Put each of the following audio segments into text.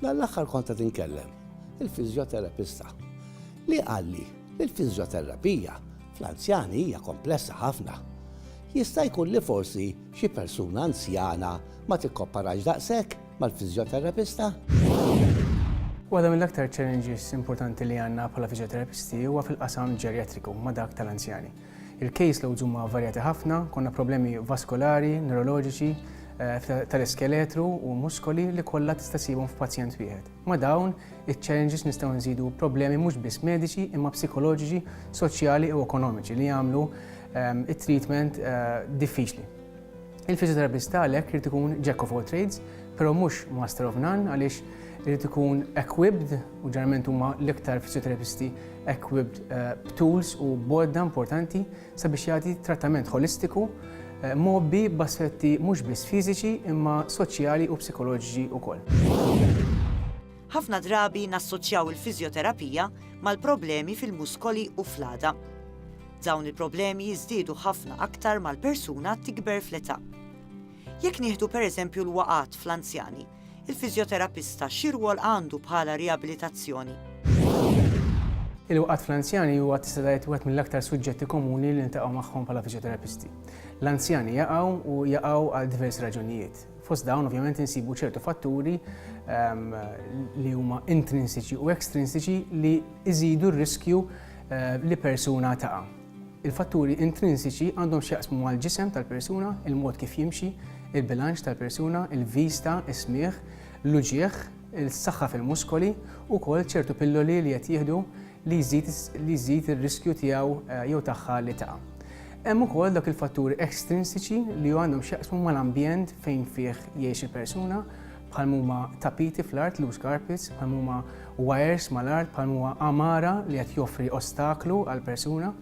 Dan l-aħħar kont qed inkellem il-fiżjoterapista li qalli li l-fiżjoterapija fl-anzjani hija komplessa ħafna. Jista' jkun li forsi xi persuna anzjana ma tikkoparax daqshekk mal-fiżjoterapista? Waħda mill-aktar challenges importanti li għandna bħala fiżjoterapisti huwa fil-qasam ġerjatriku ma' dak tal-anzjani. Il-case loads huma varjati ħafna, konna problemi vaskolari, newroloġiċi, tal-iskeletru u muskoli li kollha tista' ssibhom f'pazjent wieħed. Ma' dawn iċ-challenges nistgħu nżidu problemi mhux biss mediċi imma psikoloġiċi, soċjali u ekonomiċi li jagħmlu t-treatment diffiċli. Il-fisioterapist għalhekk irid ikun jack of all trades, però mhux master of none għaliex irid ikun equipped u ġeneralment huma l-iktar fisioterapisti equipped eh, b'tools u bodda importanti sabiex jagħti trattament holistiku eh, mobbi b'aspetti mhux biss fiżiċi imma soċjali u psikoloġiċi wkoll. Ħafna drabi nassoċjaw il-fiżjoterapija mal-problemi fil-muskoli u fl-għadha. Dawn il-problemi jiżdiedu ħafna aktar ma l-persuna tikber fl-età. Jekk nieħdu pereżempju l-waqgħat fl-anzjani, il-fiżjoterapista xi rwol għandu bħala riabilitazzjoni? Il-waqgħat fl-anzjani huwa tista' tgħid wieħed mill-aktar suġġetti komuni li niltaqgħu magħhom bħala fiżjoterapisti. L-anzjani jaqgħu u jaqgħu għal diversi raġunijiet. Fost dawn ovvjament insibu ċertu fatturi ehm, li huma intrinsiċi u ekstrinsiċi li iżidu r-riskju eh, li persuna taqa'. Il-fatturi intrinsiċi għandhom x'jaqsmu mal-ġisem tal-persuna, il-mod kif jimxi, il-bilanċ tal-persuna, il-vista, is-smieħ, l-uġieħ, il-saħħa fil-muskoli u kol ċertu pilloli li qed jieħdu li jżid li jżid ir-riskju tiegħu eh, jew tagħha li taqa'. Hemm ukoll dak il-fatturi ekstrinsiċi li għandhom x'jaqsmu mal-ambjent fejn fih jgħix il-persuna, bħal huma tapiti fl-art loose carpets, bħal huma wires mal-art, bħal huma amara li qed joffri ostaklu għal persuna.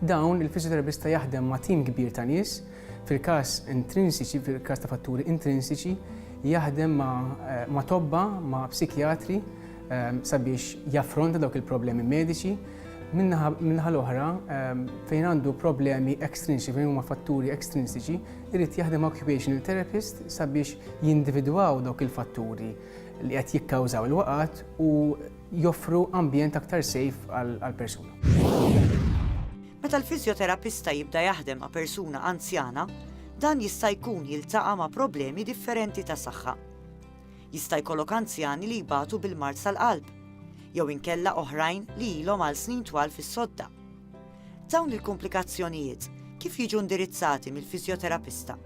Dawn il-fizjoterapista jaħdem ma' tim kbir ta' nies, fil-każ intrinsiċi, fil-każ ta' fatturi intrinsiċi, jaħdem ma', eh, ma tobba, ma' psikjatri, sabiex jaffronta dawk il-problemi mediċi, minnaħa l-oħra fejn għandu problemi ekstrinsiċi, fejn huma fatturi ekstrinsiċi, irid jaħdem occupational therapist sabiex jindividwaw dawk il-fatturi li qed jikkawżaw il-waqat u joffru ambjent aktar sejf għal-persuna. Meta l-fizjoterapista jibda jaħdem ma' persuna anzjana, dan jista' jkun jiltaqa' ma' problemi differenti ta' saħħa. Jista' jkollok anzjani li jbatu bil-mard tal-qalb, jew inkella oħrajn li ilhom għal snin twal fis-sodda. Dawn il-kumplikazzjonijiet kif jiġu indirizzati mill-fiżjoterapista?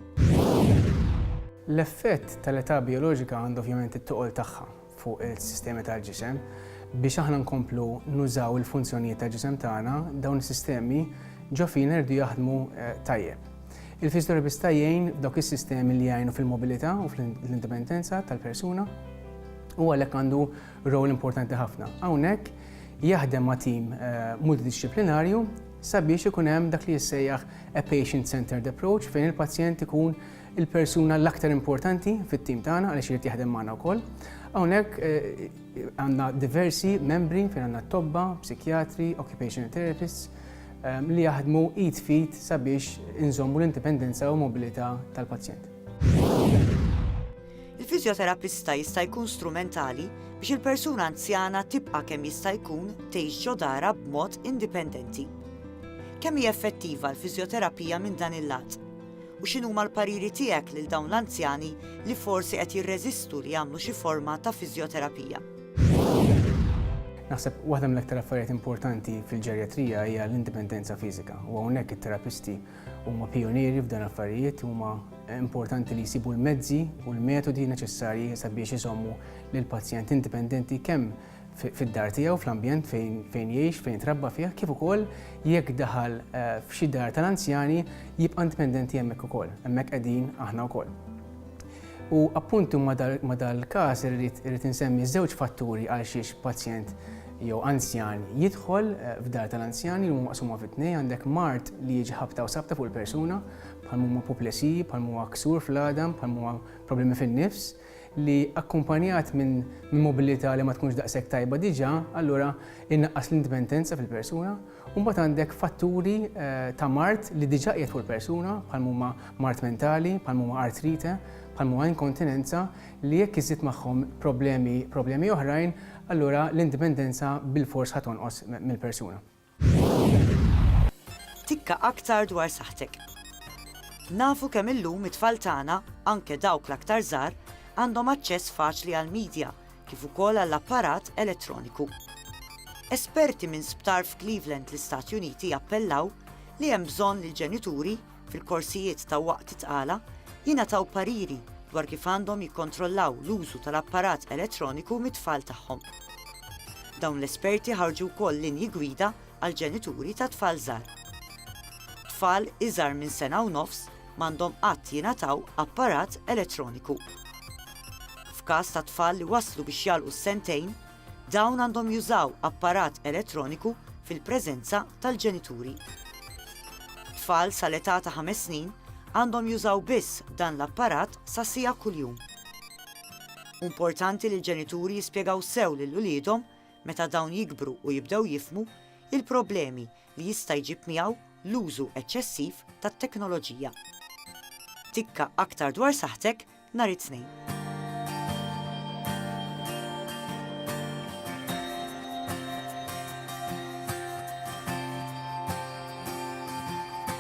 L-effett tal-età bijoloġika għandha ovvjament it-toqol tagħha fuq is-sistemi tal-ġisem. Biex aħna nkomplu nużaw il-funzjonijiet tal-ġisem tagħna, dawn is-sistemi ġo fina jridu jaħdmu tajjeb. Il-fisioterapista jgħin f'dawk is-sistemi li jgħinu fil-mobilità u fl-indipendenza tal-persuna u għalhekk għandu rol importanti ħafna. Hawnhekk jaħdem ma' tim eh, multidisciplinarju sabiex ikun hemm dak li jissejjaħ a patient-centered approach fejn il-pazjent ikun il-persuna l-aktar importanti fit-tim tagħna għaliex irid jaħdem magħna wkoll. Hawnhekk eh, għandna diversi membri fejn għandna tobba, psikjatri, occupational therapists, li jaħdmu id f'id sabiex inżommu l-indipendenza u mobilità tal-pazjent. Il-fiżjoterapista jista' jkun strumentali biex il-persuna anzjana tibqa' kemm jista' jkun tgħix ġo darha b'mod indipendenti. Kemm hi effettiva l-fiżjoterapija minn dan il-lat? U x'inhuma l-pariri tiegħek lil dawn l-anzjani li forsi qed jirreżistu li jagħmlu xi forma ta' fiżjoterapija? Naħseb waħda mill-aktar affarijiet importanti fil-ġerjatrija hija l-indipendenza fiżika u hawnhekk it-terapisti huma pionieri f'dan affarijiet huma importanti li jsibu l-mezzi u l-metodi neċessarji sabiex iżommu lil pazjent indipendenti kemm fid-dar tiegħu fl-ambjent fejn fejn jgħix fejn trabba fih kif ukoll jekk daħal eh, f'xi dar tal-anzjani jibqa' indipendenti hemmhekk ukoll. Hemmhekk qegħdin aħna wkoll. U appuntu ma' dal-każ irrid insemmi żewġ fatturi għalxiex pazjent jew anzjan jidħol f'dar tal-anzjani li huma maqsuma fi tnejn, għandek mard li jiġi ħabta u sabta fuq il-persuna, bħal m'huma apoplesiji, bħal m'huwa ksur fl-għadam, bħal m'huwa problemi fin-nifs, li akkumpanjat minn mobilità li ma tkunx daqshekk tajba diġà, allura inaqqas l-indipendenza fil-persuna. u mbagħad għandek fatturi ta' mard li diġà qiegħed fuq il-persuna bħal huma mard mentali, bħal huma artrite, bħal huma inkontinenza li jekk iżżid magħhom problemi problemi oħrajn allura l-indipendenza bilfors ħa tonqos mill-persuna. Tikka aktar dwar saħħtek. Nafu kemm illum it-tfal tagħna, anke dawk l-aktar żgħar, għandhom aċċess faċli għall-media, kif ukoll għall-apparat elettroniku. Esperti minn sptar f'Cleveland l-Istati Uniti appellaw li hemm bżonn li l-ġenituri, fil-korsijiet ta' waqt it-tqala, jingħataw pariri dwar kif għandhom jikkontrollaw l-użu tal-apparat elettroniku mit-tfal tagħhom. Dawn l-esperti ħarġu wkoll linji gwida għall-ġenituri ta' tfal żgħar. Tfal iżgħar minn sena u nofs m'għandhom qatt jingħataw apparat elettroniku. F'każ ta' tfal li waslu biex jagħlqu s-sentejn, dawn għandhom jużaw apparat elettroniku fil-preżenza tal-ġenituri. Tfal sal-età ta' ħames snin għandhom jużaw biss dan l-apparat sa siegħa kuljum. Importanti li l-ġenituri jispjegaw sew lil uliedhom meta dawn jikbru u jibdew jifhmu il-problemi li jista' jġib miegħu l-użu eċċessiv tat-teknoloġija. Tikka aktar dwar saħħtek nhar it-Tnejn.